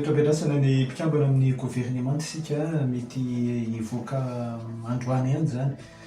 Toa miandrasana ny mpikambana amin'ny governemanta isika, mety hivoaka androany ihany izany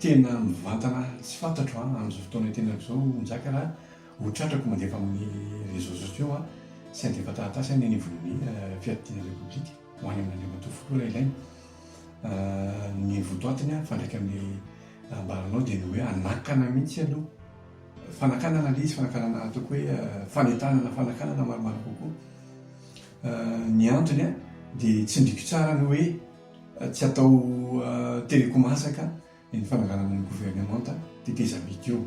Tena mivantana tsy fantatro an, amin'izao fotoana itenenako izao Njaka raha ho tratrako mandefa amin'ny réseaux sociaux an, tsy handefa taratasy aho ny anivon'ny fiadidiana repoblika ho any amin'Andriamatoa Filoha raha ilaina. Ny votoatiny an, mifandraika amin'ny ambaranao dia ny hoe hanakana mihitsy aloha, fanakanana ilay izy, fanakanana ataoko hoe fanentanana fanakanana maromaro kokoa. Ny antony an dia tsindriko tsara ny hoe. Tsy atao telekomasaka ny fananganana ny governemanta tetezamita io.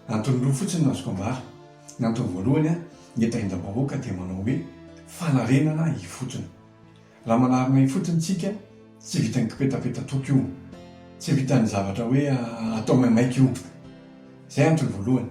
Antony roa fotsiny no azoko ambara. Ny antony voalohany, ny tahindrabahoaka dia manao hoe fanarenana ifotony. Raha manarina ifotony isika, tsy vitan'ny kipetapeta-toko io, tsy vitan'ny zavatra hoe atao maimaika io. Izay antony voalohany.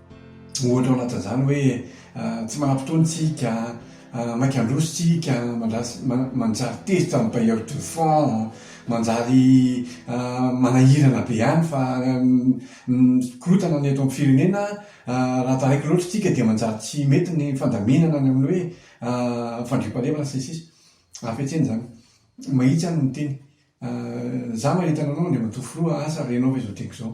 Ohatra ao anatin'izany hoe tsy manam-potoana isika, maika handroso isika, manjary tezitra amin'ny bailleur de fonds, manjary manahirana be ihany fa ny korontana ny eto amin'ny firenena raha taraiky loatra isika dia manjary tsy mety ny fandaminana ny amin'ny hoe fandriampahalemana sy ny sisa Hafetsena izany. Mahitsy aho no miteny. Izaho manerana anao Andriamatoa Filoha, asa renao ve izao diako izao?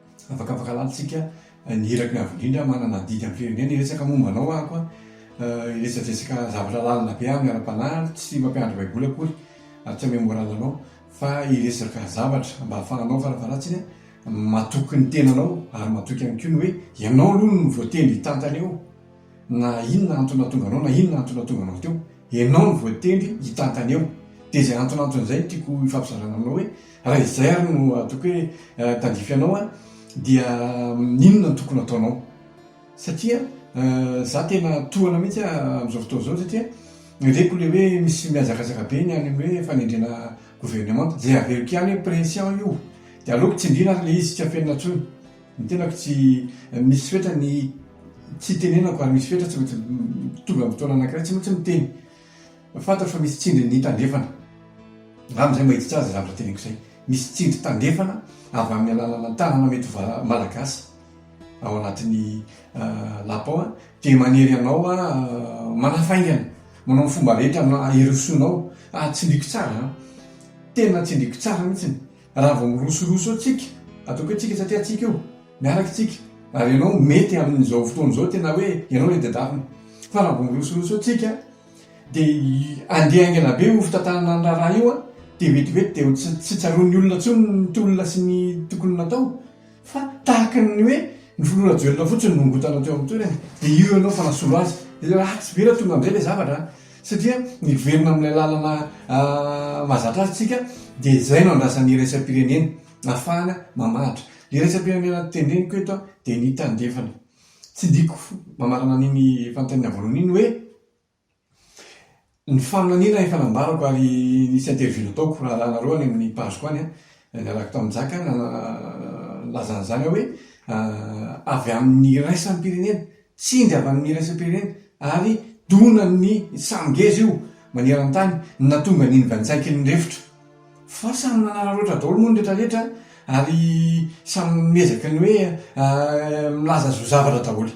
Afaka afaka lalintsika ny iraky ny avo indrindra manana adidy amin'ny firenena hiresaka momba anao aho koa hiresadresaka zavatra lalina be amin'ny ara-panahy ary tsy mampianatra baiboly akory ary tsy hamehy moral anao fa hiresaka zavatra mba hahafahanao farafaharatsiny matoky ny tenanao ary matoky ihany koa ny hoe ianao aloha no voatendry hitantana eo Na inona antony nahatonga anao, na inona antony nahatonga anao teo, ianao no voatendry hitantana eo. Dia izay antonantony izay no tiako hifampizarana aminao hoe, raha izay ary no ataoko hoe tandrify anao an, dia inona no tokony hataonao? Satria izaho tena tohana mihitsy amin'izao fotoana izao satria reko ilay hoe misy mihazakazaka be ny any amin'ny hoe fanendrena governemanta. Izay averiko ihany hoe pression io, dia aleoko tsindriana ary ilay izy tsy afenina intsony. Ny tenako tsy misy fetra ny tsy hitenenako ary misy fetra tsy maintsy tonga amin'ny fotoana anankiray tsy maintsy miteny. Fantatro fa misy tsindry ny tandrefana. Angamba izay mahitsy azy izay zavatra teneniko izay. Misy tsindry tandrefana avy amin'ny alalan'ny tanana mety ho malagasy ao anatin'ny lapa ao dia manery anao manafaingana, manao ny fomba rehetra hirosoanao. Tsindriko tsara, tena tsindriko tsara mihitsy. Raha vao mirosoroso eo tsika, ataoko hoe tsika satria tsika io, miaraka tsika, ary ianao mety amin'izao fotoana izao tena hoe ianao ilay diadrafona. Fa raha vao mirosoroso eo tsika, dia andeha haingana be io fitantanana ny raharaha io, dia vetivety dia tsy tsaroan'ny olona intsony ny tolona sy ny tokony natao. Fa tahaka ny hoe ny filoha Rajoelina fotsiny no nongotana teo amin'ny toerany, dia io ianao fa nasolo azy. Dia ratsy be raha tonga amin'izay ilay zavatra an! Satria niverina amin'ilay lalana mahazatra azy isika, dia izay no andrasan'ny iraisam-pirenena ahafahana mamaritra. Ilay iraisam-pirenena tendreniko eto dia ny tandrefana. Tsy diko mamarana an'iny efa nitainina voalohany iny hoe. Ny faminaniana efa nambarako ary nisy interview nataoko raharahanareo any amin'ny page-ko any an, niaraka tamin'i Njaka nalaza an'izany aho hoe avy amin'ny iraisam-pirenena, tsindry avy amin'ny iraisam-pirenena ary donan'ny samy ngeza io maneran-tany ny nahatonga an'iny Vantsaiky iny refotra. Fa samy nanararoatra daholo moa ny retraretra ary samy miezaka ny hoe milaza zo zavatra daholo.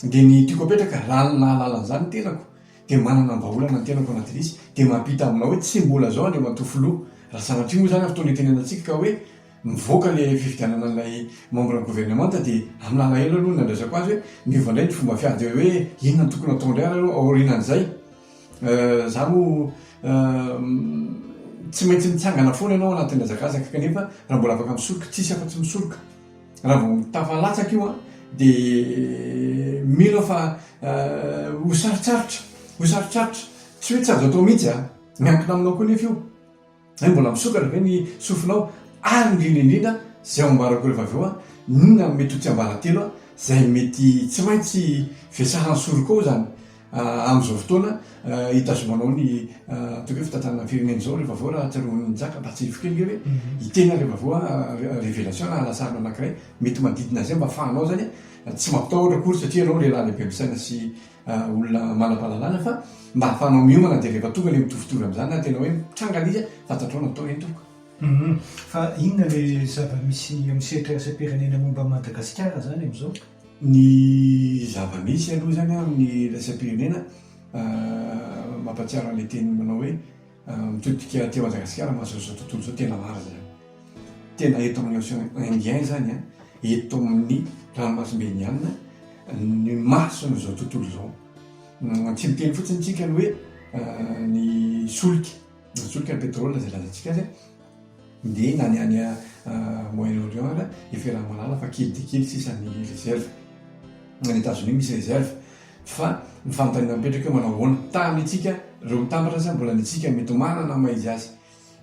Dia ny tiako apetraka, raha ny nahalala an'izany ny tenako, dia manana vahaolana ny tenako anatin'izy, dia mampita aminao hoe tsy mbola izao Andriamatoa Filoha, raha sanatria moa izany amin'ny fotoana itenenantsika ka hoe mivoaka ilay fifidianana an'ilay membre ny governemanta dia amin'ny alahelo aloha ny nandraisako azy hoe miova indray ny fomba fiady dia hoe inona no tokony hatao indray ary aloha aorianan'izay za moa tsy maintsy mitsangana foana ianao anatin'ny hazakazaka kanefa raha mbola afaka misoroka, tsisy afa-tsy misoroka. Raha vao tafalatsaka io an, dia mino aho fa ho sarotsarotra, ho sarotsarotra, tsy hoe tsy azo atao mihitsy an, miankina aminao koa nefa io, hoe mbola misokatra ve ny sofinao, ary indrindra indrindra izay ho ambarako rehefa avy eo an, inona no mety ho tsiambaratelo an, izay mety tsy maintsy vesahan'ny sorokao izany. Amin'izao fotoana hitazonanao ny atao hoe fitantanana ny firenena izao ry Vavao Rahatsiarovy Nizaka mba tsy hivoky ange hoe hiteny ary Vavao a, révélation na halasarina anankiray mety manodidina izay mba afahanao zany tsy mampitahotra akory satria ianao lehilahy lehibe misaina sy olona manam-pahalalana fa mba afahanao miomana dia rehefa tonga ilay mitovitovy amin'izany na tena hoe mitranga ilay izy a fantatrao ny atao anie tompoko. Fa inona ilay zava-misy amin'ny sehatra iraisam-pirenena momba an'i Madagasikara izany amin'izao? Ny zava-misy aloha izany an, amin'ny iraisam-pirenena, mampahatsiaro an'ilay teny manao hoe mitodika aty Madagasikara mahazo an'izao tontolo izao, tena marina izany. Tena eto amin'ny Océan Indien izany an, eto amin'ny ranomasimbe Indianina ny mahazo an'izao tontolo izao. Tsy miteny fotsiny isika ny hoe ny solika Nazotrika ny pétrole izay lazantsika azy ndeha na ny any Moyen Orient ary i Ferahamalala fa kely dia kely sisa ny réserve. Any Etazonia misy réserve fa ny fanontaniana mipetraka eo manao ahoana? Tamintsika ireo mitambatra aza mbola ny antsika mety ho manana ny maha izy azy.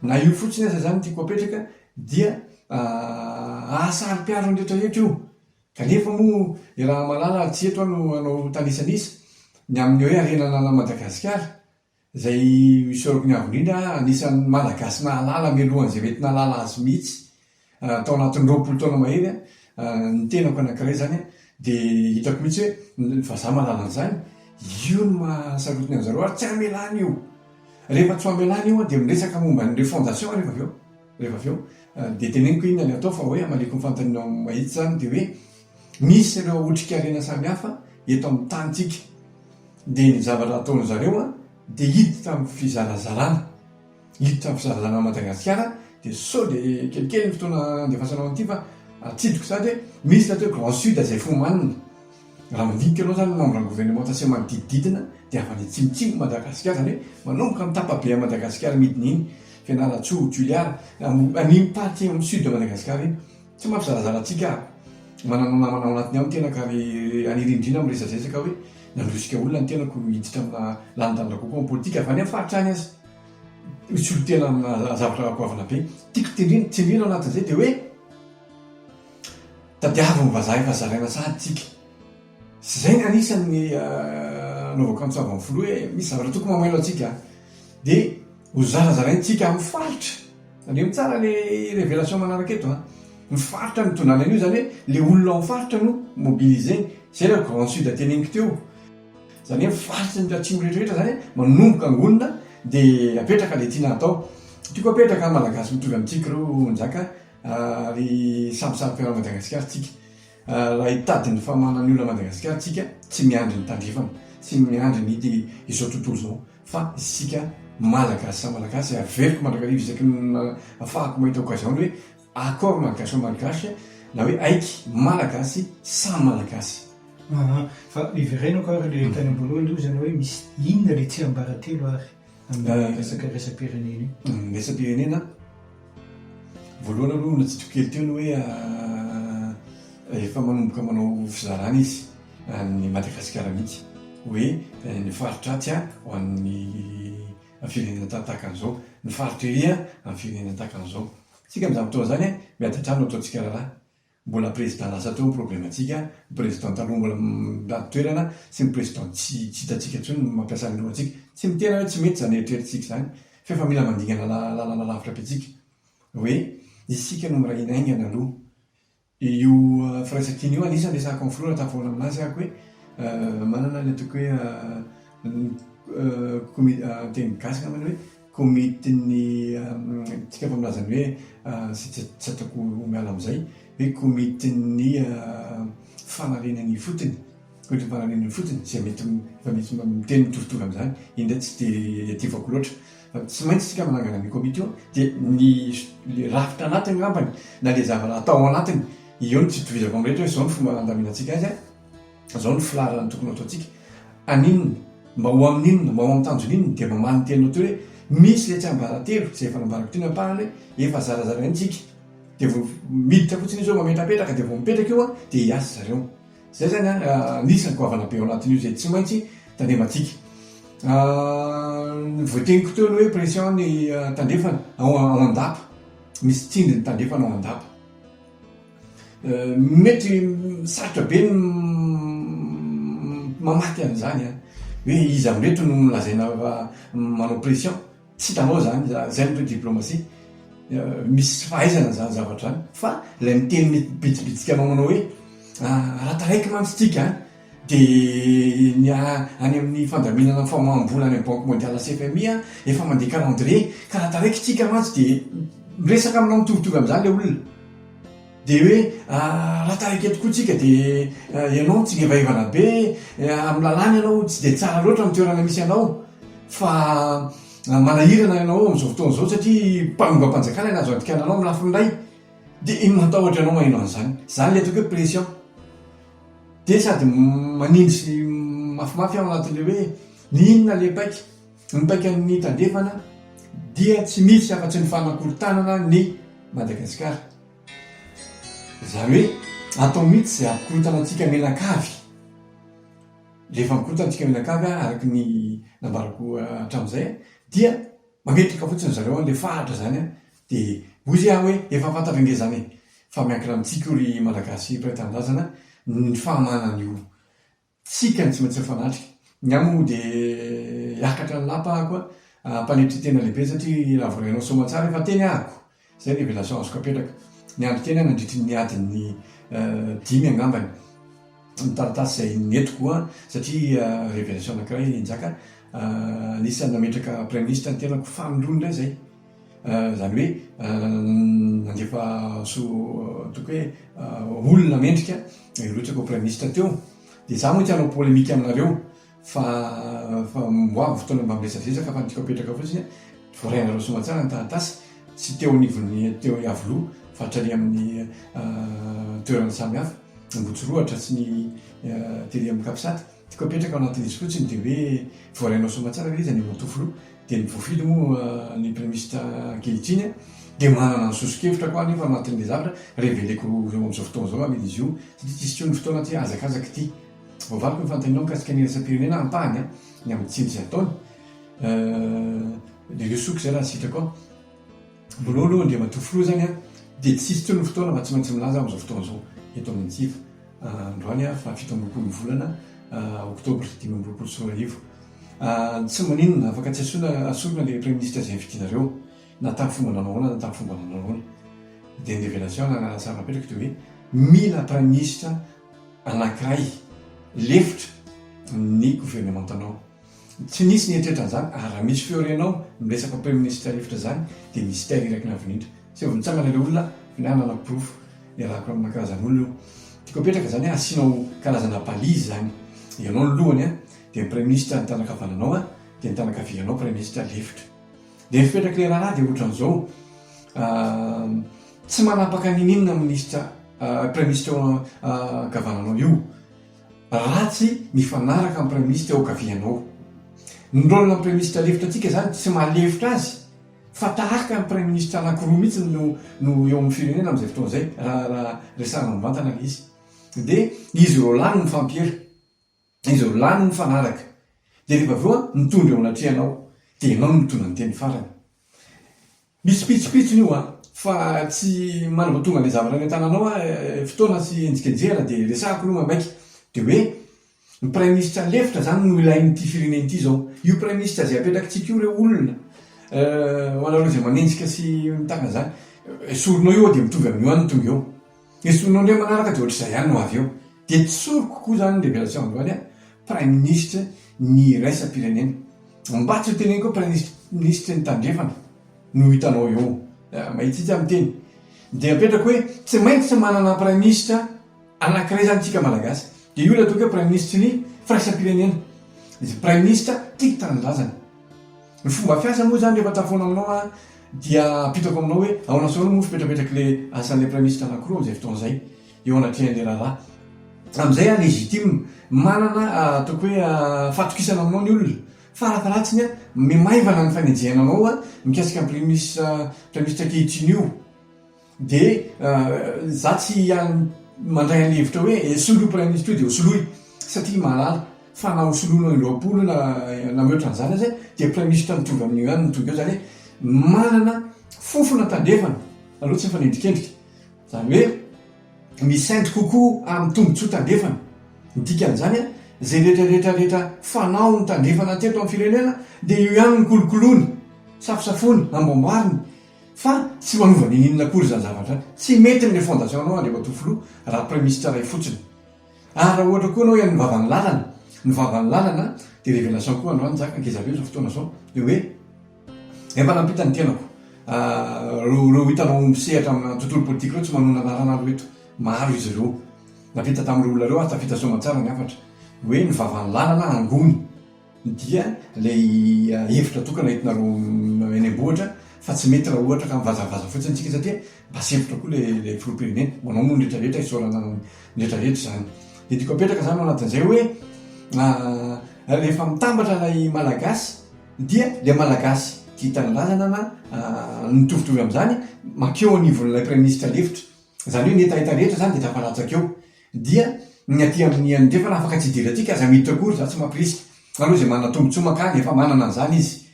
Na io fotsiny aza izany no tiako apetraka dia hahasaropiaro ny rehetra eto io. Kanefa moa i Rahamalala tsy eto aho no hanao tanisanisa ny amin'ny hoe harena ananan'i Madagasikara Izay isaorako ny avo indrindra, anisan'ny Malagasy nahalala mialohan'izay mety nahalala azy mihitsy, tao anatin'ny roapolo taona mahery, ny tenako anankiray izany dia hitako mihitsy hoe ny vazaha mahalala an'izany, io no maha sarotiny an'i zareo ary tsy hamelana io. Rehefa tsy ho hamelana io dia miresaka momba ny refondation aho rehefa avy eo, dia teneniko hoe inona no atao fa hoe hamaliako ny fanontanianao mahitsy izany dia hoe, Misy ireo otrikarena samihafa eto amin'ny tanintsika dia ny zavatra ataon'ny zareo dia hiditra amin'ny fizarazarana, hiditra amin'ny fizarazarana an'i Madagasikara dia sao dia kelikely ny fotoana andefasanao an'ity fa atsidiko izany hoe misy ny atao hoe grand sud izay fomanina, raha mandinika ianao izany ny membre gouvernemanta sy ny manodidididina dia avy any atsimotsimo Madagasikara izany hoe manomboka amin'ny tapabe an'i Madagasikara midina iny, Fianarantsoa, Toliara, amin'iny partie amin'ny sud de Madagasikara iny. Tsy mampizanazana antsika aho. Manana namana ao anatin'ny ao ny tenako ary any rindrina miresazesaka hoe nandrosika olona ny tenako hiditra amina lanindany rakoako amin'ny politika, avy any amin'ny faritra any aza. Misolotena amina zavatra goavana be. Tiako tendrena, tsindriana ao anatin'izay dia hoe tadiavo ny vazaha efa zaraina sahady tsika. Tsy izay nga anisan' ny anaovako an'i Tsavo amin'ny Filoha hoe misy zavatra tokony mamailo antsika dia ho zarazaraintsika amin'ny faritra. Tandremo tsara le révélation manaraka eto an. Ny faritra no tondrana an'io izany hoe le olona ao amin'ny faritra no mobiliser. Izay ilay grande sud teneniko teo. Izany hoe ny faritry ny atsimo rehetra rehetra izany manomboka angonina dia apetraka le tiana hatao. Tiako apetraka an, Malagasy mitovy amintsika ireo Njaka ary samy saro-piaro an'i Madagasikara tsika. Raha hitady ny famanan'ny olona Madagasikara tsika tsy miandry ny tandrefana, tsy miandry ny ity izao tontolo izao fa isika Malagasy samy Malagasy averiko mandrakariva isaky ny afahako mahita occasion ny hoe accord malgache malgache na hoe aiky Malagasy samy Malagasy. Fa iverenako ary le tany amboalohany aloha zany hoe misy inona le tsiambaratelo ary? Angaha hiresaka iraisampirenena io? Ny iraisampirenena, voalohany aloha natsitoko kely teo ny hoe efa manomboka manao fizarana izy ny Madagasikara mihitsy hoe ny faritra atsy ho an'ny firenena tahaka an'izao, ny faritra ery amin'ny firenena tahaka an'izao. Isika amin'izany fotoana izany miady an-trano no ataontsika raharaha. Mbola président lasa teo ny problème ntsika, ny président taloha mbola mitady toerana sy ny président tsy tsy hitantsika intsony no mampiasa ny lohantsika. Tsy miteny hoe tsy mety izany eritreritsika izany fa efa mila mandingana lalana lavitra be tsika hoe isika no miray hina haingana aloha. Io firaisankina io anisany resahako amin'ny filoha raha tafahoatra aminazy aho hoe manana ny ataoko hoe ny teny gasy angambany hoe Komitin'ny tsika efa milaza ny hoe izay tsy ataoko ho miala amin'izay, hoe komitin'ny fanariana ny ifotony, komitin'ny fanariana ny ifotony, izay mety efa misy miteny mitoritory amin'izany, iny indray tsy dia iadivako loatra. Fa tsy maintsy isika manangana ny komity io, dia ny ilay rafitra anatiny angambany na ilay zava-raha atao ao anatiny, eo no tsy itovizako amin'ny rehetra hoe izao no fomba handaminantsika azy an! Zao ny filaharana tokony hataontsika, An'inona? Mba ho amin'inona? Mba ho amin'ny tanjon'inona? Dia mamaly ny teninao teo hoe, Misy ilay tsiambaratelo, izay efa nambarako teo ny ampahany hoe, Efa zarazara ihany tsika. Dia vao miditra fotsiny izy hoe mametrapetraka, dia vao mipetraka io dia hiasa zareo. Izay izany anisan'ny goavana be ao anatin'io izay tsy maintsy tandremantsika. Ny voateniko teo ny hoe pression ny tandrefana ao an-dapa. Misy tsindry ny tandrefana ao an-dapa. Mety sarotra be ny mamaky an'izany an! Hoe iza indray eto no lazaina fa manao pression? Tsy hitanao izany za, izay no hoe diplomasia. Misy fahaizana an'izany zavatra izany fa ilay miteny mibitsibitsika anao manao hoe raha taraiky mantsy tsika an! Dia ny any amin'ny fandaminana ny famaham-bola any amin'ny banky mondiale sy FMI an, efa mandeha calendrier, ka raha taraikitsika mantsy dia miresaka aminao mitovitovy amin'izany ilay olona. Dia hoe raha taraiky eto koa tsika dia ianao mitsingevaivana be, amin'ny lalàna ianao tsy dia tsara loatra ny toerana misy anao fa manahirana ianao amin'izao fotoana izao satria mpanongam-panjakana no azo andikana anao amin'ny lafiny iray dia matahotra ianao maheno an'izany. Izany ilay ataoko hoe pression. Dia sady manimby sy mafimafy aho anatin'ilay hoe ny inona ilay paika? Ny paikan'ny tandrefana dia tsy misy afa-tsy ny fanakorontanana an'i Madagasikara. Izany hoe atao mihitsy izay hampikorontana antsika mianakavy. Rehefa mikorontana antsika mianakavy araka ny nambarako hatramin'izay dia mametraka fotsiny ry zareo an'ilay faritra izany. Dia hoy izy aho hoe, efa fantatra ange izany e! Fa miankina amintsika io ry Malagasy mpiray tanindrazana ny fahamahana an'io tsika ny tsy maintsy mifanatrika. Ny ahy moa dia hiakatra ny lapa aho koa hampanetry tena lehibe satria raha vao ianao soamantsara efa teny ahako. Izay révélation azoko apetraka. Niandry tena aho nandritry ny adiny dimy angambany ny taratasy izay nentiko ho ahy satria révélation anankiray Njaka anisan'ny nametraka Praiminisitra ny tenako famelony indray izay. Izany hoe nandefa toky hoe olona mendrika ireo hitako ho praiminisitra teo. Dia izaho moa tsy hanao polemika aminareo fa fa ho avy ny fotoana mba miresadresaka fa ny tiako apetraka fotsiny hoe voarainareo soamantsara ny taratasy tsy teo anivon'ny teo Iavoloha fa hatrany amin'ny toerana samihafa, Ambohitsorohatra sy ny tery amin'ny Capsat. Ny tiako apetraka ao anatin'izy fotsiny dia hoe voarainao soamantsara ve izy any Ambohitofoloha? Dia ny voafidy moa ny premista ankehitriny dia manana ny soso-kevitra koa anefa anatin'ilay zavatra reveleko eo amin'izao fotoana izao amidy izy io satria tsy sitreo ny fotoana aty hazakazaka ity voavaliko ny fanontanianao mikasika ny iraisam-pirenena ampahany ny amin'ny tsindry ataony euh, le le souk zay raha sitrako Mololo aloha Andriamatoa Filoha izany an, dia tsy hisy intsony ny fotoana fa tsy maintsy milaza amin'izao fotoana izao eto amin'ny Antsiva androany an, faha fito amby roapolo ny volana oktobra dimy amby roapolo sy roa arivo. Tsy maninona, afaka tsy asorina ilay Praiminisitra izay vidianareo, na tamin'ny fomba nanao ahoana na tamin'ny fomba nanao ahoana. Dia ny révélation anarahana sary napetraka dia hoe, mila Praiminisitra anankiray lefitra ny governemantanao. Tsy nisy nieritreritra an'izany ary raha misy feo renao miresaka praiministra rivotra izany dia mystère iraky ny avy indrindra. Tsy ho avy nitsangana ilay olona fa ny ahy nanana porofo. Iarahako amina karazana olona io. Tiako apetraka izany hoe asianao karazana balise izany. Ianao ny lohany dia ny praiministra ny tanana ankavananao dia ny tanana ankavianao praiministra lefitra. Dia ny fipetrak'ilay raharaha dia ohatran'izao, tsy manapaka n'inon'inona minisitra praiministra eo ankavananao io. Ratsy mifanaraka amin'ny Praiministra eo an-kaviany ao. Ny rôle-n'ny Praiministra lefitra antsika izany tsy maha lefitra azy fa tahaka ny Praiministra anankiroa mihitsy no no eo amin'ny firenena amin'izay fotoana izay raha raha resahana mivantana ilay izy. Dia izy roa lahy no mifampiera. Izy roa lahy no mifanaraka. Dia rehefa avy eo an, mitondra eo anatrehanao. Dia ianao no mitondra ny teny farany. Misy pitsopitsony io a! Fa tsy manambatonga an'ilay zavatra any an-tananao aho eh! Fotoana sy enjikenjehana dia resahiko aloha maika dia hoe ny praiminisitra lefitra zany no ilain'ity firenena ity zao. Io praiminisitra izay apetrakitsika io re olona eh! Ho anareo izay manenjika sy mitaka an'izany, esorinao io ao dia mitovy amin'io any ny tonga eo. Dia soloy indray manaraka dia ohatr'izay ihany no avy eo. Dia tsy sorry kokoa izany révélation androany an! Praiminisitra ny iraisam-pirenena. Mba tsy ho teneniko hoe praiminisitry ny tandrefana no hitanao eo. Mahitsy hitsy aho miteny. Dia apetrako hoe tsy maintsy manana praiminisitra anankiray izany isika Malagasy. Dia io ilay atao hoe praiminisitry ny firaisam-pirenena. Praiminisitra tia tanindrazana. Ny fomba fiasa moa izany rehefa tafoana aminao an! Dia apitako aminao hoe ahoana foana moa fipetrak'le asan'le praiministra anakiroa amin'izay fotoana izay eo anatrehan'le raharaha. Amin'izay aho legitime. Manana ataoko hoe fahatokisana aminao ny olona. Farataratsiny aho miha maivana ny fanenjehana anao mikasika ny praiministra praiministra ankehitriny io. Dia izaho tsy hiany mandray an'ilay hevitra hoe eh, soloy Praiminisitra io dia hosoloy, satria mahalala fa na hosoloina ny roapolo na na mihoatra an'izany aza dia Praiminisitra mitovy amin'io ihany no tonga eo, izany hoe manana fofona tandrefana aloha tsy mifanendrikendrika. Izany hoe misaindy kokoa amin'ny tombontsoa tandrefana. Ny dikan'izany, izay rehetrarehetra rehetra fanao ny tandrefana teto amin'ny firenena dia io ihany no kolokoloiny, safosafoiny, amboamboariny. Fa tsy manova ninininona akory izany zavatra izany. Tsy mety amin'ilay fondation anao Andriamatoa Filoha raha Praiminisitra iray fotsiny. Ary raha ohatra koa ianao ian'ny vavan'ny lalana, ny vavan'ny lalana dia révélation koa androany zaka ankizy avy eo izao fotoana izao dia hoe efa nampita ny tenako reo reo hitanao misehatra amina tontolo politika ireo tsy manonona anarana aloha eto maro izy ireo nampita tamin'ireo olona ireo ary tafita soamantsara ny hafatra hoe ny vavan'ny lalana angony dia ilay hevitra tokana entinareo eny am-bohitra fa tsy mety raha ohatra ka mivazavaza fotsiny isika satria mba sempotra koa ilay filoham-pirenena, manao moa ny rehetra rehetra isaorana ny rehetra rehetra izany, dia tiako apetraka izany ao anatin'izay hoe rehefa mitambatra ilay Malagasy dia ilay Malagasy tia tanindrazana na mitovitovy amin'izany mankeo anivon'ilay praiminisitra lefitra, izany hoe ny hetaheta rehetra izany dia tafalatsaka eo. Dia ny aty amin'ny andrefana afaka tsy hijery antsika aza miditra akory izany tsy mampirisika. Aleo izay manana tombotsoa mankany efa manana an'izany izy.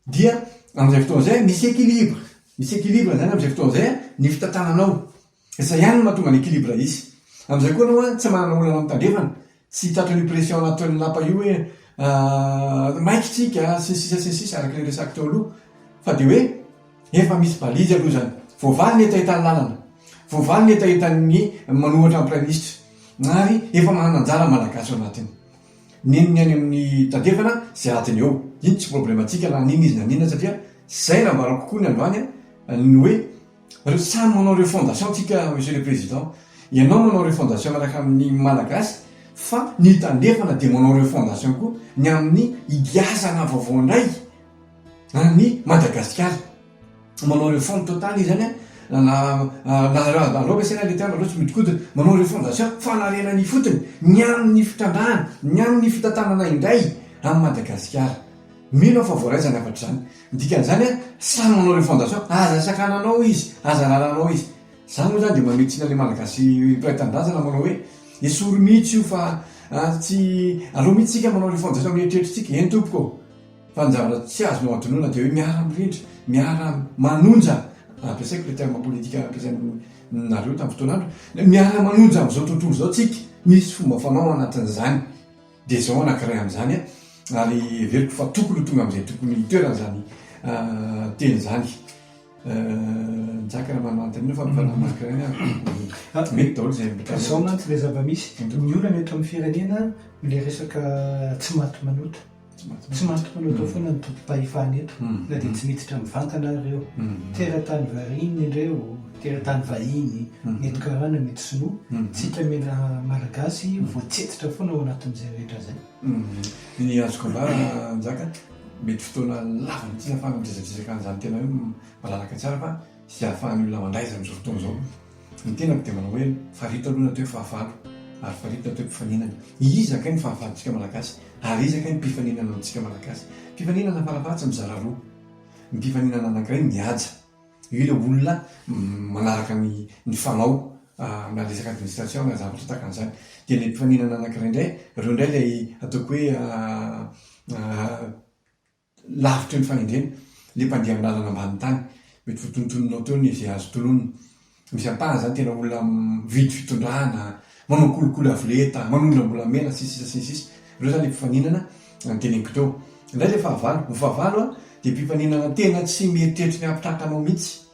Dia amin'izay fotoana izay misy équilibre. Misy équilibre izany amin'izay fotoana izay ny fitantananao. Izay ihany no mahatonga ny équilibre hisy. Amin'izay koa ianao tsy manana olana amin'ny tandrefana, tsy tratran'io pression nataon'ny lapa io hoe maika isika sy ny sisa sy ny sisa araka ilay resahiko teo aloha. Fa dia hoe. Efa misy balizy aloha izany. Voavaly ny hetahetan'ny lalana. Voavaly ny hetahetan'ny manohatra ny Praiminisitra. Ary efa manana anjara ny Malagasy ao anatiny. Nino ny any amin'ny tandrefana izay adiny eo. Iny tsy problemantsika na an'inona izy na an'inona satria izay nambarako koa ny androany ny hoe samy manao refondation tsika Monsieur le Président. Ianao manao refondation miaraka amin'ny Malagasy fa ny tandrefana dia manao refondation koa ny amin'ny higiazana vaovao indray. Ary ny Madagasikara, manao réforme totale izy any an, na na anaovana izay na leteana aleo tsy mihodinkodina, manao refondation, fanarenana ifotony, ny amin'ny fitrandrahana, ny amin'ny fitantanana indray an'i Madagasikara. Mino aho fa voaraiza ny hafatra izany. Ny dikan'izany an, samy manao refondation, aza sakananao izy, aza raranao izy. Izany moa izany dia mamehy tsiny an'ilay Malagasy mpiray tanindrazana manao hoe, esory mihitsy io fa tsy, aleo mihitsy isika manao refondation amin'ny eritreritritsika. Eny tompoko ô! Fa ny zavatra tsy azonao adinoina dia hoe miara mirindra, miara manonja, ampiasaiko ilay terme politika nampiasainareo tamin'ny fotoana andro, miara manonja amin'izao tontolo izao tsika, misy fomba fanao ao anatin'izany, dia izao anankiray amin'izany an, ary heveriko fa tokony ho tonga amin'izay tokony hitoerany izany teny izany, Jack raha manontaniana fa mba manankiray ny ahy, mety daholo izay rehetra. Fa izao mantsy ilay zava-misy, ny olana eto amin'ny firenena ilay resaka tsy maty manota. Tsy maty mpanotao foana ny tompom-pahefana eto, na dia tsy miditra mivantana ary ireo. Teratany variana ireo, teratany vahiny, mety karana, mety sinoa. Tsika mena malagasy voatsetitra foana ao anatin'izay rehetra izay. Ny azoko ambara Njaka, mety fotoana lava mihitsy ahafahanao miresadresaka an'izany tena hoe malalaka tsara fa sy ahafahan'ny olona mandray izany amin'izao fotoana izao. Ny tenako dia manao hoe, farito aloha ny atao hoe fahavalo, ary farito ny atao hoe mpifaninana. Iza kay ny fahavalontsika Malagasy? Ary iza kay ny mpifaninana amintsika Malagasy? Mpifaninana farafahatsiny mizara roa. Ny mpifaninana anankiray mihaja. Io ilay olona manaraka ny ny fanao na resaka administration na zavatra tahaka an'izany. Dia ilay mpifaninana anankiray indray, ireo indray ilay ataoko hoe Lavitra eo ny fahendrena, le mpandeha amin'ny lalana ambany tany. Mety votonontononao teo ny ze azo tononina. Misy ampahany zany tena olona mividy fitondrana, manao kolikoly avo lenta, manondrana am-bolamena sy ny sisa sy ny sisa. Reo zany le mpifaninana noteneniko teo. Ndray le fahavalo, ny fahavalo a de mpifaninana tena tsy mieritreritry ny hampitraka anao mitsy.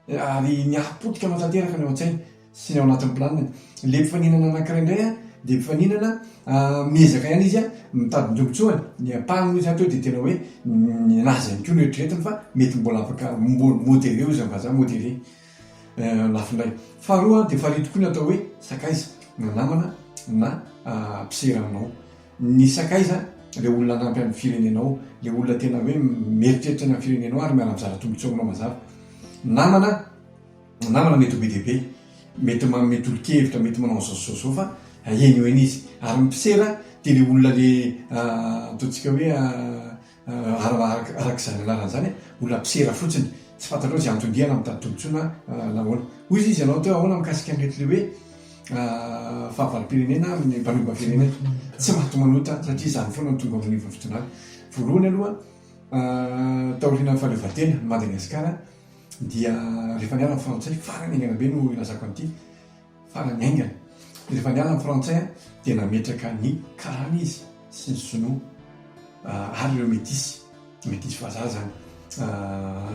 ary miaro potika anao tanteraka ny ao an-tsainy sy ny ao anatin'ny planiny. Ilay mpifaninana anankiray indray dia mpifaninana miezaka ihany izy mitady ny tombontsoany, ny ampahany moa izany teo dia tena hoe ny anazy ihany koa no eritreretiny fa mety mbola afaka mbola modéré hoy izany vazaha modéré lafiny iray. Faharoa dia farihy tokoa ny atao hoe sakaiza na namana na mpisera aminao. Ny sakaiza ilay olona hanampy an'ny firenenao, ilay olona tena hoe mieritreritra ny amin'ny firenenao ary miala mizara tombontsoa aminao mazava. Namana, namana mety ho be dia be, mety manome tolo-kevitra, mety manao an'izao sy izao fa heno eny izy. Ary ny mpisera dia ilay olona ilay ataontsika hoe Araka izany anarany izany, olona mpisera fotsiny. Tsy fantatrao izay antony dia na mitady tombontsoana na ahoana. Hoy izy, izy ianao teo ahoana mikasika ny retlio hoe fahavalom-pirenena amin'ny mpanohimba firenena. Tsy maty manota satria izany foana no tonga ao anivon'ny fitondrana. Voalohany aloha, taorian'ny fahaleovantena, Madagasikara dia rehefa niala ny frantsay, farany haingana be no ilazako an'ity, Farany haingana, rehefa niala ny Frantsay dia nametraka ny Karana izy sy ny Sinoa ary ireo Metisy, Metisy vazaha izany.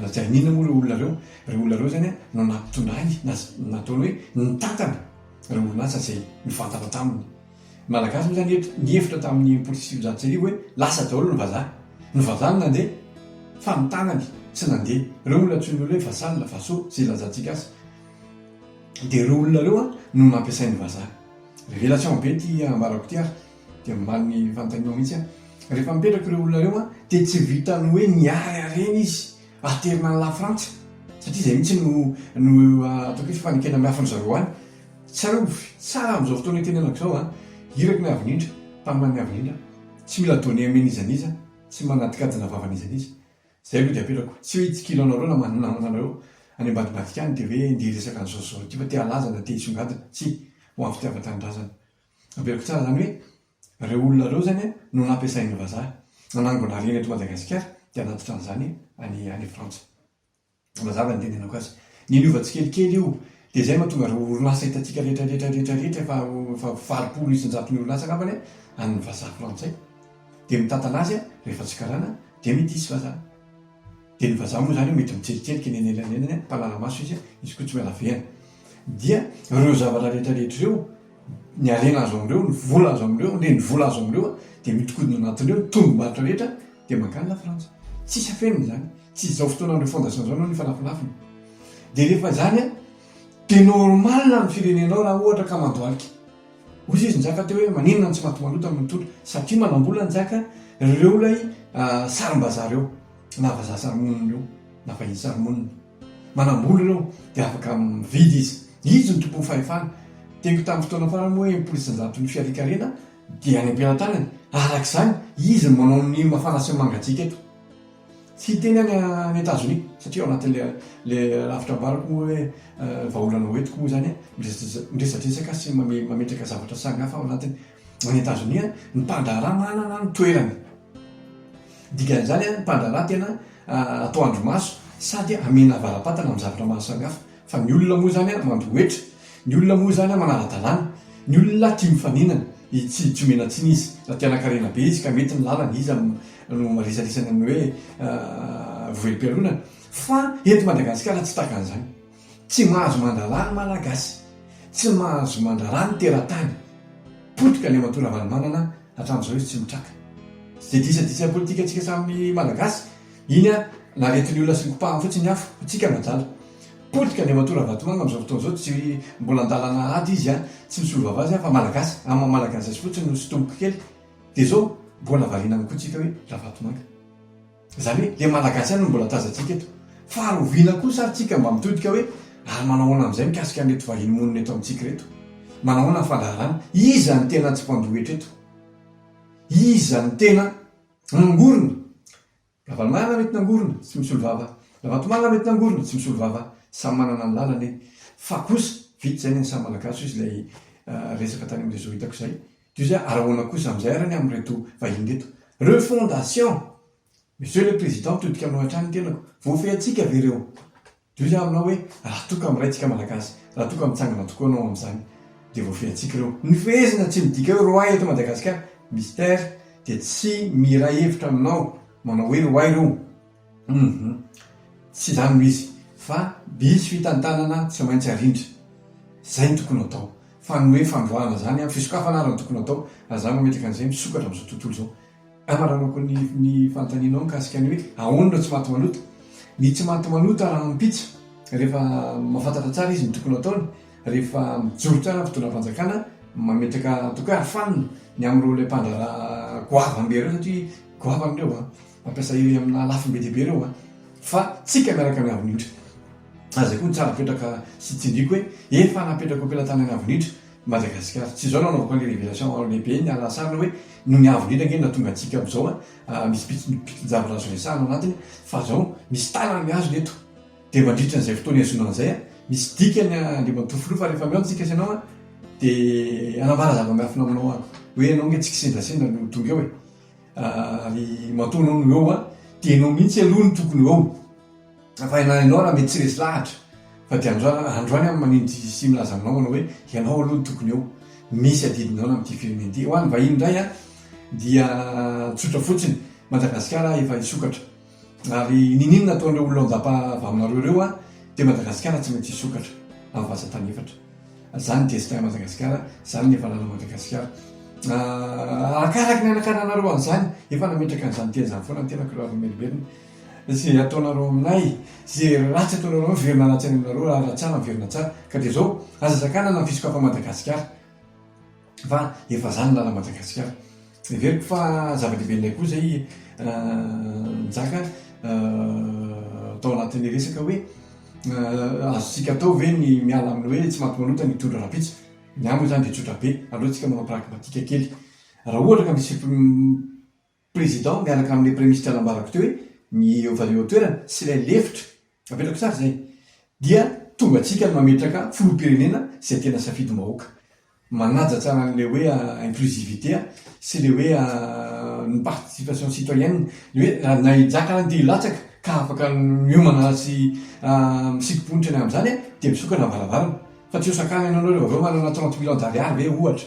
Lazainy inona moa ireo olona ireo? Ireo olona ireo izany no nampitondrainy na nataony hoe nitantana ireo orinasa izay nifantatra taminy. Ny Malagasy moa izany nihevitra tamin'ny enimpolo sy sivinjato sy arivo hoe lasa daholo ny vazaha. Ny vazaha no nandeha fa ny tanany tsy nandeha. Ireo no antsoin'ny olona hoe vassal, vassaux izay ilazantsika azy. Dia ireo olona ireo an no nampiasain'ny vazaha. Revela tsy ao be ity ambarako ity ary dia omaly ny fanontanianao mihitsy an. Rehefa mipetraka ireo olona ireo an dia tsy vitan'ny hoe niary harena izy haterina any lafrantsa satria izay mihitsy no no ataoko hoe fanekena miafin-dry zareo any. Tsarovy tsara amin'izao fotoana itenenako izao an, iraky ny avy indrindra, mpaminany avy indrindra, tsy mila donner an'iza n'iza, tsy manadikadina vava an'iza n'iza. Izay no diam-pelako. Tsy hoe hitsikilo anareo na manonanona anareo any ambadibadika any dia hoe ndeha hiresaka an'izao sy izao ity fa te halaza na te hisongadina. Tsia. Ho an'ny fitiavan-tanindrazana. Averiko tsara izany hoe ireo olona ireo izany no nampiasain'ny vazaha nanangona harena eto Madagasikara dia hanatitra an'izany any any Frantsa. Mazava ny tenenako azy. Ny niova tsikelikely io dia izay mahatonga ireo orinasa hitantsika rehetra rehetra rehetra rehetra efa efa valopolo isan-jato ny orinasa angambany an, an'ny vazaha frantsay. Dia mitantana azy an, rehefa tsy karana dia midisy vazaha. Dia ny vazaha moa izany an, mety mitserikerika eny anelanelan'ny an, mpanala maso izy an, izy koa tsy miala vehana. Dia ireo zavatra rehetra rehetra ireo, ny harena azo amin'ireo, ny vola azo amin'ireo, ny renivola azo amin'ireo an, dia miodikodina anatiny eo ny tombom-barotra rehetra Dia mankany Lafrantsa. Tsisy afenina izany. Tsy izao fotoanan'ireo fondation izao no nifanafinafina. Dia rehefa izany an, dia normal ny amin'ny firenenao raha ohatra ka mandohalika. Hoy izy Njaka teo hoe maninona no tsy maty maloto no mitondra. Satria manambola Njaka ireo ilay sarimbazaha ireo. Na vazaha sarimonina ireo. Na vahiny sarimonina. Manambola ireo. Dia afaka mividy izy. Izy no tompon'ny fahefana. Teniko tamin'ny fotoana farany moa hoe enimpolo isan-jaton'ny fiharian-karena. Dia any am-pelantanany, araka izany, izy no manao ny mafana sy ny mangatsiaka eto. Tsy hiteny any any Etazonia, satria ao anatin'ilay rafitra ambarako moa hoe vahaolana hoentiko moa izany miresadresaka sy mametraka zavatra samihafa ao anatiny. Any Etazonia, ny mpandraharaha manana ny toerany. Dikan'izany, ny mpandraharaha tena atao andrimaso sady amena avara-patana amin'ny zavatra maro samihafa. Fa ny olona moa izany mandometra, ny olona moa izany manara-dalàna, ny olona tia mifaninana, tsy tsy omena tsiny izy. Raha te hanankarena be izy ka mety ny lalany, iza no maresadresaka ny hoe vohelim-pialonana? Fa eto Madagasikara tsy tahaka an'izany. Tsy mahazo mandrara ny Malagasy, tsy mahazo mandrara ny teratany. Potika Andriamatoa Ravalomanana hatramin'izao izy tsy mitraka. Tsy dia disadisa ny politikantsika samy Malagasy. Iny a, naretin'ny olona sy ny kopahany fotsiny ny afo, hotsika no adala. Potika ny ramatoa Ravatomanga amin'izao fotoana izao, tsy mbola an-dalana ady izy a, tsy misolo vava azy a, fa Malagasy, amin'ny maha Malagasy azy fotsiny no sotomiko kely, dia izao mbola variana ihany koa tsika hoe Ravatomanga. Izany hoe ilay Malagasy ihany no mbola tazantsika eto. Faharoviana kosa ary tsika mba mitodika hoe ary manao ahoana amin'izay mikasika an'ireto vahiny monina eto amintsika ireto? Manao ahoana ny fandraharana? Iza no tena tsy mpandoa hetra eto? Iza no tena. Nangorona. Ravalomanana mety nangorona, tsy misolo vava. Ravatomanga mety nangorona, tsy misolo vava. Samy manana ny lalany. Fa kosa, vita izay ny an'ny samy Malagasy hoy izay resaka tany amin'ny réseau hitako izay. Toy izay ary ahoana kosa amin'izay ary ny amin'ireto vahiny ireto. Refondation! Monsieur le Président, mitodika aminao hatrany ny tenako. Voafehintsika ve ireo Dia hoy aminao hoe, Raha toa ka miray tsika Malagasy, raha toa ka mitsangana tokoa anao amin'izany, dia voafehintsika ireo. Ny fehezina tsy midika hoe roay eto Madagasikara, Mister, dia tsy miray hevitra aminao manao hoe roay ireo. Humm. Tsy izany no izy, fa diso fitantanana tsy maintsy arindra. Izay no tokony hatao. Fa ny hoe fandroahana izany, fisokafana ary no tokony hatao, raha izaho mametraka an'izay, misokatra amin'izao tontolo izao. Amaranako ny ny fanontanianao mikasika ny hoe ahoana no tsy maty manota. Ny tsy maty manota rahampitso rehefa mahafantatra tsara izy ny tokony hataony, rehefa mijoro tsara ny fitondram-panjakana, mametraka ataoko hoe arofanina ny amin'ireo ilay mpandraharaha goavana be ireo satria goavana ireo an, mampiasa ireny amina lafiny be dia be ireo an, fa tsika miaraka amin'ny Avonitra. Ary izay koa no tsara fetraka sy tsindriako hoe efa napetrako am-pelatanan'ny Avonitra Madagascar. Tsy izao no anaovako ny révélation ao lehibe ny alahatsarina hoe noho ny avo indrindra ange no nahatonga antsika amin'izao an, misy pitinjavatra azo resahana ao anatiny fa izao misy tanany mihazona eto dia mandritra an'izay fotoana ihazonana an'izay an, misy dikany Andriamatoa Filoha fa rehefa mihaona isika sy ianao an, dia hanambara zava-miafina aminao aho hoe ianao ange tsy kisendrasendra no tonga eo e! ary matoa ianao no eo an, dia ianao mihitsy aloha no tokony ho eo. Tsaraina ianao raha mety tsy resy lahatra fa dia androany aho no manindry sy milaza aminao manao hoe ianao aloha no tokony eo. Misy adidinao ny amin'ity film ity. Ho an'ny vahiny indray dia tsotra fotsiny, Madagasikara efa hisokatra. Ary niniana ataon'ireo olona ao an-dapa avy aminareo ireo dia Madagasikara tsy maintsy hisokatra amin'ny vazan-tany efatra. Izany ny destin Madagasikara, izany ny hafanana Madagasikara. Arakaraka ny hanakananareo an'izany, efa nametraka an'izany teny izany foana ny tenako raha vao merimberina. Ze ataonareo aminay, ze ratsy ataonareo miverina ratsy any aminareo, raha raha tsara miverina tsara, ka dia zao, aza sakanana ny fisokafan'i Madagasikara, fa efa zany ny lalan'i Madagasikara. Heveriko fa zava-dehibe indray koa zay Njaka tao anatin'ny resaka hoe azontsika atao ve ny miala amin'ny hoe tsy mati-manota ny hitondra rahampitso, ny amiko zany dia tsotra be, aleontsika manao pragmatika kely, raha ohatra ka misy Président miaraka amin'ilay Praiministra nambarako teo hoe miova eo toerana sy ilay lefitra, apetrako tsara izay, dia tonga antsika ny mametraka Filoham-pirenena izay tena safidimbahoaka. Manaja tsara an'ilay hoe inclusivité sy ilay hoe ny participation citoyenne, ilay hoe raha na i Jaka na Dihy latsaka ka afaka miomana sy misikim-ponitra ny amin'izany dia misokatra ny varavarana. Fa tsy hosakanana ianao ry vaovao manana trente millions d'ariary ve ohatra.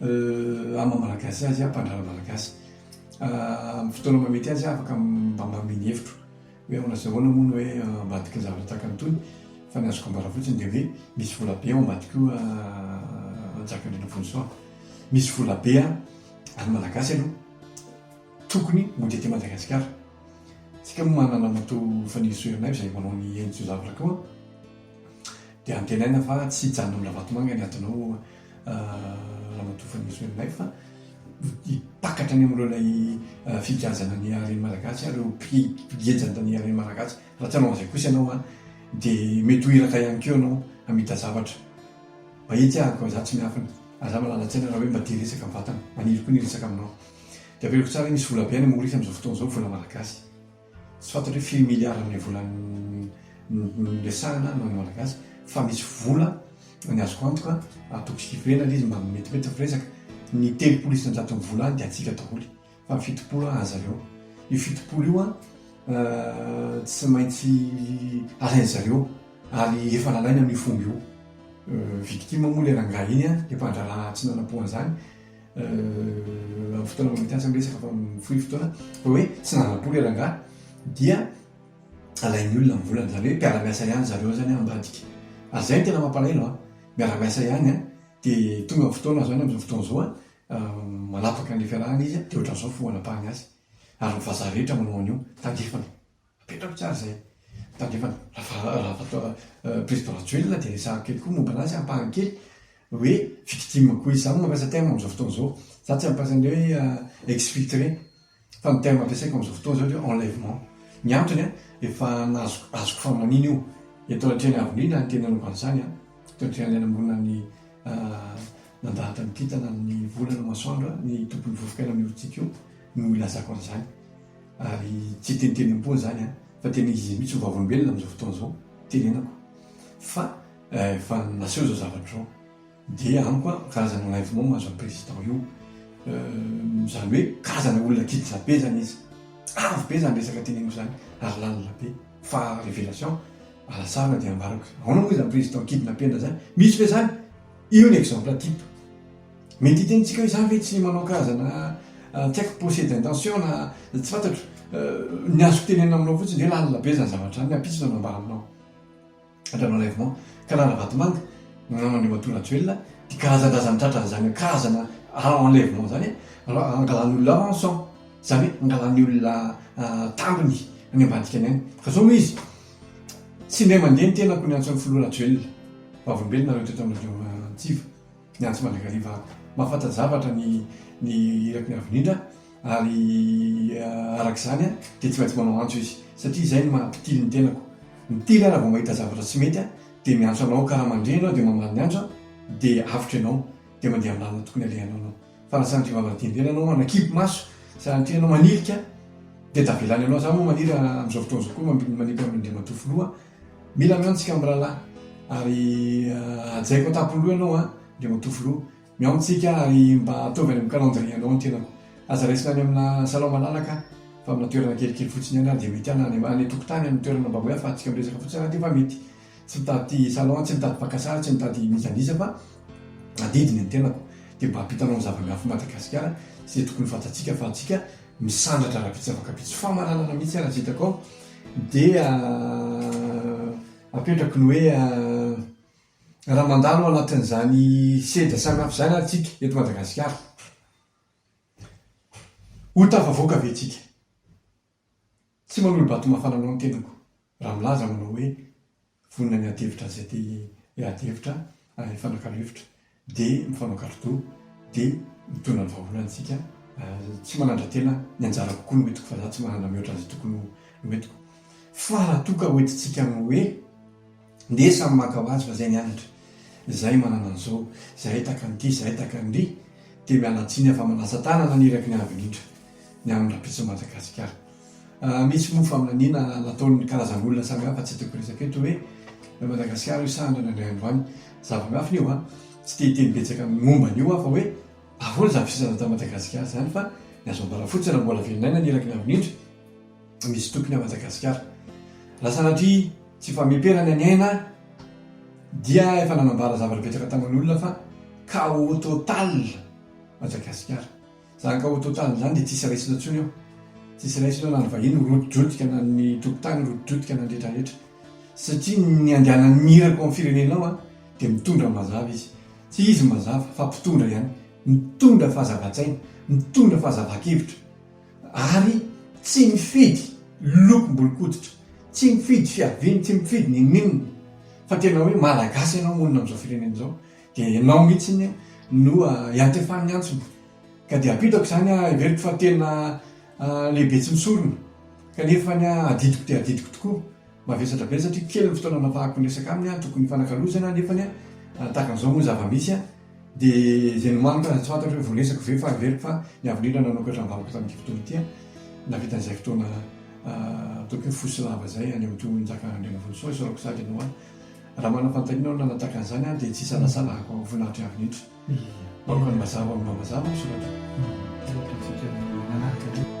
Ama Malagasy azy aho mpandrara Malagasy. Amin'ny fotoana maha mety azy aho afaka mba manome ny hevitro. Hoe ahoana sy ahoana moa ny hoe ambadiky ny zavatra tahaka an'itony. Fa ny azoko ambara fotsiny dia hoe misy volabe ao ambadika io Rajakarena Vonjisoa. Misy volabe any Malagasy aloha tokony mody aty Madagasikara. Isika moa manana an'Atoa Fanirisoa Ernaivo izay manao ny henjotsoa zavatra koa. Dia antenaina fa tsy hijanona amin'ny Ravatomanga ny atonao Ramatoa Fanirisoa Ranaivo fa hitakatra any amin'ireo ilay fihikajana ny haren'ny Malagasy ary ireo mpigejantan'ny haren'ny Malagasy. Raha tsy hanao an'izay kosa ianao dia mety ho iraka ihany koa ianao hamita zavatra. Mahitsy aho koa izaho tsy miafina ary izaho mahalala tsaina raha hoe mba tia resaka mivantana. Maniry koa ny hiresaka aminao. Dia ampiako tsara hoe misy volabe any amin'ny Maorisy amin'izao fotoana izao, vola malagasy. Tsy fantatra hoe firy milliard ilay vola niresahana noho ny Malagasy fa misy vola ny azoko antoka atoko sy kivy ilay izy mba metimetyny firesaka ny telopolo isanjaton'ny vola any dia antsika daholo fa ny fitopolo an aza aleo io fitopolo io an euh, tsy maintsy alain'ny zareo ary efa lalaina amin'ny fomba io euh, victime moa le rangahy iny an le mpandraharaha tsy nanampohan'izany amin'ny fotoana mbola mety asa ny resaka fa mifoy fotoana fa hoe tsy nanam-po ilay rangahy dia alain'ny olona ny volany izany hoe mpiara-miasa ihany zareo izany an ambadika ary izay no tena mampalahelo an miara-miasa ihany an dia tonga ny fotoana izany amin'izao fotoana izao an manapaka an'ilay fiarahana izy dia ohatran'izao ny fomba anapahany azy ary ny vazaha rehetra manao an'io tandrefana Apetrako tsara izay tandrefana. Raha président Rajoelina dia resahako kely koa momba anazy ampahany kely hoe victime koa izy. Izaho no mampiasa terme amin'izao fotoana izao. Izaho tsy mampiasa ny hoe euh, exfiltré fa ny terme ampiasaiko amin'izao fotoana izao dia enlèvement. Ny antony an, efa nazoko azoko famanina io. Eto anatrehan'ny avenue na ny tena nanaovana izany an, eto anatrehan'ilay namorona ny euh, nandahatra ny kintana ny volana masoandro ny tompon'ny vovoka eny amin'ny orontsika io no ilazako an'izany. Ary tsy tentenim-po izany an, fa tena izy mihitsy ho vavolombelona amin'izao fotoana izao tenenako fa efa naseho izao zavatra izao, dia amiko an, karazana enlèvement mahazo an'i président io, izany hoe karazana olona kitra be izany izy, avo be izany resaka teneniko izany ary lalina be, fa révélation alasarina dia ambarako, ahoana moa izany président kidnappena izany, misy ve izany? Io ny exemple type. Mety hitenitsika hoe izaho ve tsy manao karazana tsy haiko procès d'intention na tsy fantatro. Ny azoko tenenina aminao fotsiny dia lalina be izany zavatra izany, miampitsy izao nambara aminao indray manaivo ka Ralavatomanga namana Andriamatoa Rajoelina dia karazan-drazan'ny tratran'izany karazana enlèvement izany angalan'olona rançon, izany hoe angalan'ny olona tambiny any ambadika any ihany. Fa izao moa izy, tsy indray mandeha ny tenako niantso an'i Filoha Rajoelina, vavolombelonareo teto anivon'ny Antsiva. Ny Antso Mandrakariva mahafanta-javatra ny ny iraky ny Avin'Indra ary araka izany dia tsy maintsy manao antso izy satria izay no maha-mpitily ny tenako. Mitily aho raha vao mahita zavatra tsy mety dia miantso anao ka raha mandre ianao dia mamaly ny antso aho dia avotra ianao dia mandeha amin'ny lalana tokony alehanao ianao. Fa raha sanatria vao hanadihadiana anao, hanakipy maso, sanatria ianao manilika dia tavela any ianao. Izaho moa maniry amin'izao fotoana izao koa manipy an'Andriamatoa Filoha Mila mihaona tsika amin'ny rahalahy ary hajaiko an-tampon'ny loha ianao an, dia matoa filoha. Mihaona tsika ary mba ataovy any amin'ny calendrier anao ny tenako. Aza raisina any amina salon malalaka fa amina toerana kelikely fotsiny ihany ary dia mety an, any any an-tokotany any toerana mba hoe afahantsika miresaka fotsiny raha dia fa mety. Tsy mitady salon aho, tsy mitady mpaka sary, tsy mitady n'iza n'iza fa adidy ny tenako dia mba hampitanao ny zava-miafy Madagasikara sy izay tokony fantatsika fa antsika misandratra rahampitso zava-kampitso. Famaranana mihitsy ary aza hitako ao Dia apetrako ny hoe raha mandalo ao anatin'izany sedra samihafa izany ary tsika eto Madagasikara, ho tafavoaka ve tsika? Tsy manolo-bato mafana anao ny tenako raha milaza aho manao hoe Vonona ny adihevitra izay te hi adihevitra ary hifanakalo hevitra dia mifanao kalo-doha dia mitondra ny vahaolana isika ary tsy manandra-tena ny anjara kokoa no entiko fa za tsy manana mihoatra izay tokony ho entiko fa raha toa ka ho entintsika amin'ny hoe ndeha samy maka ho azy fa zay ny anatra zay manana an'izao zahay taka an'ity zahay taka an'ry dia miala tsiny aho fa manasa tanana ny iraky ny avy indrindra ny amin'ny rapitsin'i Madagasikara Misy moa faminaniana nataon'ny karazan'olona samihafa tsy tiako resaka eto hoe Madagasikara io sa andriana indray andro any. Za Bangafo io an, tsy te hiteny betsaka momba an'io aho fa hoe ahoana izany fisainana tao Madagasikara izany fa ny azo ambara fotsiny raha mbola velona aina ny Iraky Navolindry misy tompony ao Madagasikara. Raha sanatria tsy fameperana ny aina dia efa nanambara zavatra betsaka tamin'olona fa chaos total Madagasikara. Zany ka au total izany dia tsisy raisina intsony eo. Tsisy raisina eo na ny vahiny ho rotidrotika na ny tompon-tany ho rotidrotika na ny retraretra. Satria ny andianan'ny mirako amin'ny firenena ao dia mitondra ny mazava izy. Tsy izy ny mazava fa mpitondra ihany. Mitondra fahazavan-tsaina, mitondra fahazavan-kevitra. Ary tsy mifidy lokom-bolon-koditra, tsy mifidy fiaviany, tsy mifidy n'inon'inona. Fa tena hoe malagasy ianao monina amin'izao firenena izao. Dia ianao mihitsy no iantefan'ny antsony. Ka dia apitako izany aho, heveriko fa tena lehibe tsy misorona. Kanefa adidiko dia adidiko tokoa. Mavesatra be satria kely ny fotoana anafahako miresaka aminy aho, tokony hifanakalozana nefa tahaka an'izao moa ny zava-misy. Dia izay nomaniko aza tsy fantatra hoe voaresako ve fa heveriko fa ny avo indrindra nanokatra ny valiny tamin'ity fotoana ity aho, nahavita an'izay fotoana ataoko hoe fo sy lava izay haneho tohin'i Njakà Andrianarivonisoa, isaorako sady ianao aho. Raha manao fanontaniana aho nanataka an'izany aho dia tsy isalasalako ho voninahitry avy netra. Aoka ny mazava momba mazava ny soratra. Aoka isika manaraka Dio.